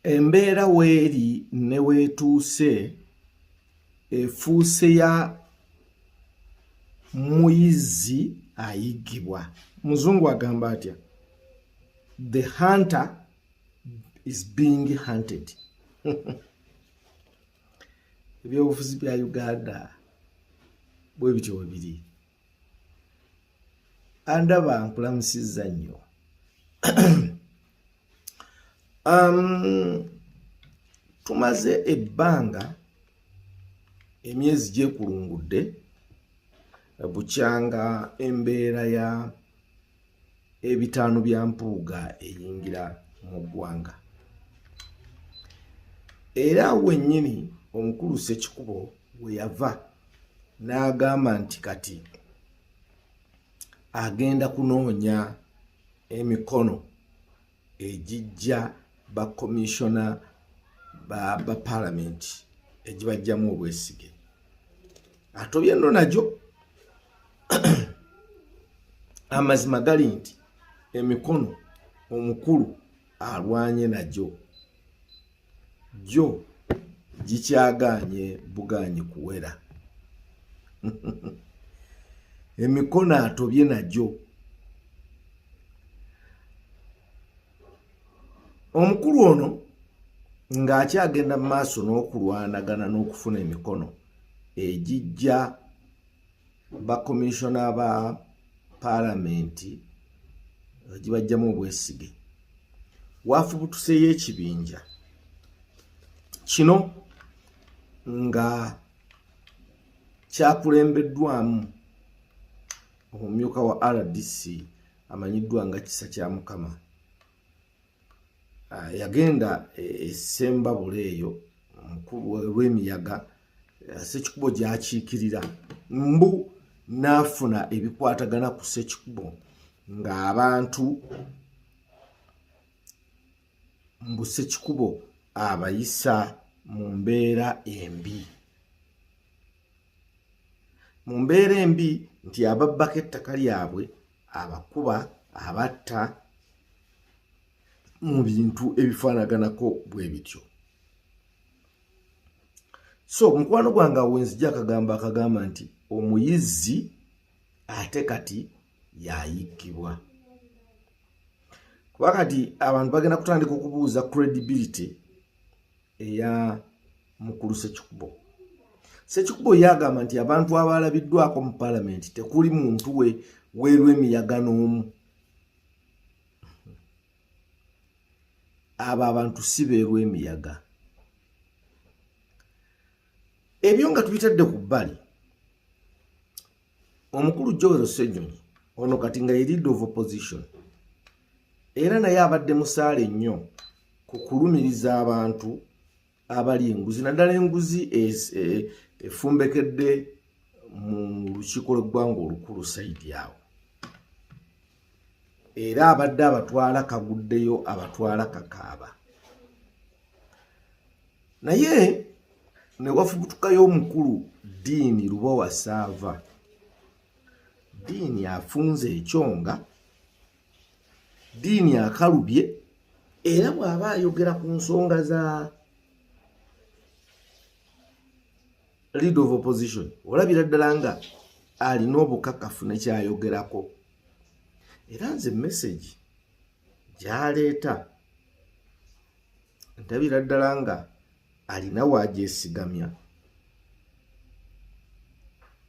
Embeera weeri ne weetuuse efuuse ya muyizzi ayiggibwa. Muzungu agamba atya? The hunter is being hunted. Ebyobufuzi bya Uganda bwe bityo bwe biri. andaba nkulamusizza nnyo um, tumaze ebbanga emyezi gyekulungudde bukyanga embeera ya ebitaano bya mpuuga eyingira mu ggwanga era wennyini omukulu sekikubo we yava n'agamba nti kati agenda kunoonya emikono egijja ba komishona ba, ba palamenti egibajjamu obwesige atobye no nagyo amazima gali nti emikono omukulu alwanye nagyo gyo gikyagaanye bugaanyi kuwera emikono atobye nagyo omukulu ono ng'akyagenda mu maaso n'okulwanagana n'okufuna emikono egijja bakomishona ba palamenti gibajjamu obwesige wafubutuseyo ekibinja kino nga kyakulembeddwamu omumyuka wa rdc amanyiddwa nga kisa kya mukama ah, yagenda esembabula e, eyo lwemiyaga eh, sekikubo gyakiikirira mbu n'afuna ebikwatagana ku sekikubo ng'abantu mbu sekikubo abayisa mu mbeera embi mu mbeera embi nti ababbako ettaka lyabwe abakuba abatta mu bintu ebifaanaganako bwe bityo so mukwano gwange awo wenzija akagambo akagamba nti omuyizzi ate kati yayikkibwa kuba kati abantu bagenda kutandika okubuuza credibility eya mukulu sekikubo sekikubo yagamba nti abantu abalabiddwako mu palamenti tekuli muntu we weerwa emiyaga n'omu abo abantu si beerwa emiyaga ebyo nga tubitadde ku bbali omukulu joel senyonyi ono kati nga ye leader of opposition era naye abadde musaale nnyo ku kulumiriza abantu abali enguzi naddala enguzi e, efumbekedde mu lukiiko lweggwanga olukulu saidi awo era abadde abatwala kaguddeyo abatwala kakaaba naye newafubutukayo omukulu diini lubowa saava diini afunze ekyonga diini akalubye era bw'aba ayogera ku nsonga za lead of opposition olabira ddala nga alina obukakafu nekyayogerako era nze message gyaleeta ndabira ddala nga alina wagyesigamya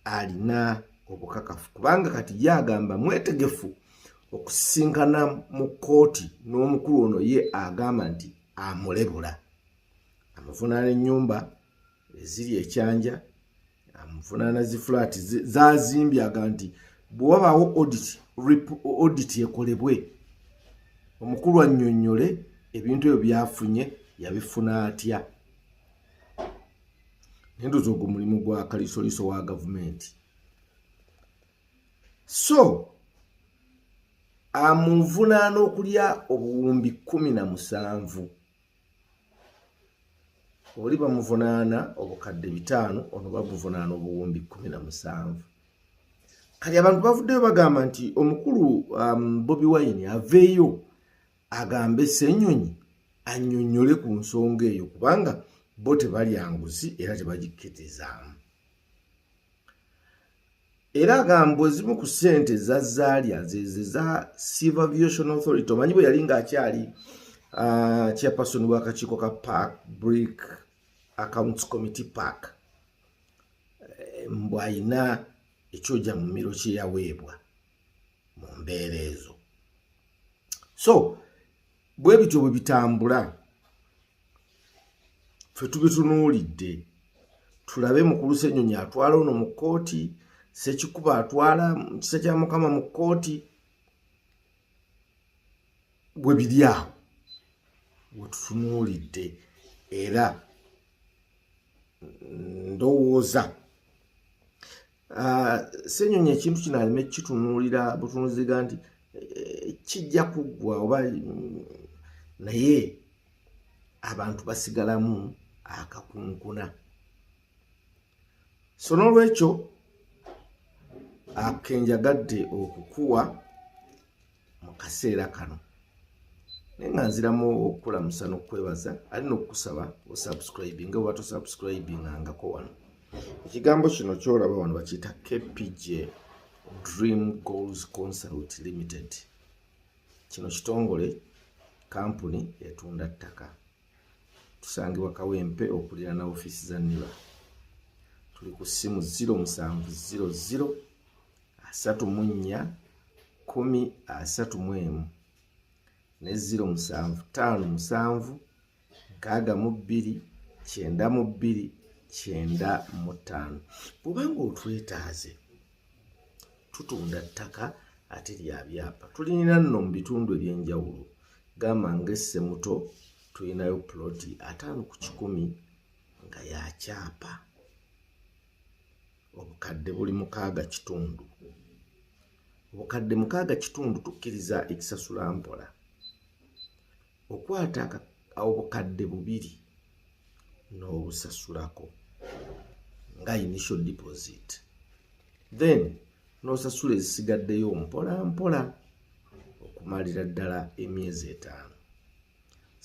alina obukakafu kubanga kati yagamba mwetegefu okusisinkana mu kkooti n'omukulu ono ye agamba nti amulebula amuvunaana ennyumba eziri ekyanja amuvunaana zi flat zazimbyaga nti bwewabaawo oditi ekolebwe omukulu annyonnyole ebintu ebyo byafunye yabifuna atya nendoza ogwo mulimu gwa kalisoliso wa gavumenti so amuvunaana okulya obuwumbi kumi na musanvu oli bamuvunaana obukadde bitaano ono bamuvunaana obuwumbi kumi na musanvu kati abantu bavuddeyo bagamba nti omukulu um, bobi wine aveeyo agambe senyonyi anyonyole ku nsonga eyo kubanga bo tebalya nguzi era tebagikkitizaamu era agamba ezimu ku ssente za zaalya zeze za silver viation authority omanyi bwe yali ng'akyali ah, chairperson w'akakiiko ka park brick accounts committee park eh, mbwalina ekyoja mu miro kye yaweebwa mu mbeera ezo so bwe bityo bwe bitambula ffe tubitunuulidde tulabe mukulu senyonyi atwala ono mu kkooti sekikuba atwala mukisa kya mukama mu kkooti bwe biri awo wetutunuulidde era ndowooza Ah, senyonyi ekintu kino aleme kitunuulira butunuziga nti eh, kijja kuggwa oba mm, naye abantu basigalamu akakunkuna so n'olwekyo akenjagadde okukuwa mu kaseera kano naye nga nziramu okukulamusa n'okukwebaza ali n'okukusaba osubscribe nga oba tosubscribe nga ngako wano ekigambo kino kyolaba wano bakiyita kpj dream goals consult limited kino kitongole kampuni etunda ttaka tusangibwa kawempe okulira na ofiisi za niba tuli ku ssimu 0700 asatu mu nnya kumi asatu mu emu ne ziro musanvu ttaano musanvu nkaaga mu bbiri kyenda mu bbiri kyenda mu ttaano bwubanga otwetaaze tutunda ttaka ate lya byapa tulina nno mu bitundu eby'enjawulo gamba ng'essemuto tulinayo puloti ataano ku kikumi nga yakyapa obukadde buli mukaaga kitundu obukadde mukaaga kitundu tukkiriza ekisasula mpola okwata obukadde bubiri n'obusasulako nga initial deposit then n'osasula ezisigaddeyo mpola mpola okumalira ddala emyezi etaano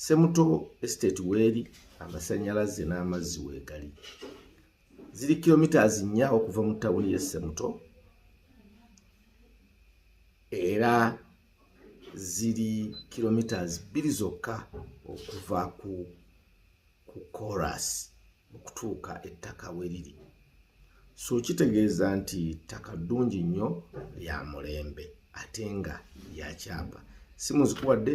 semuto estate weeri amasanyalaze n'amazzi weegali ziri kilometres nnya okuva mu tawuni ye semuto era ziri kilometres bbiri zokka okuva ku ku coras okutuuka ettaka we liri so kitegeeza nti ttaka ddungi nnyo lya mulembe ate nga lyakyapa si muzikuwadde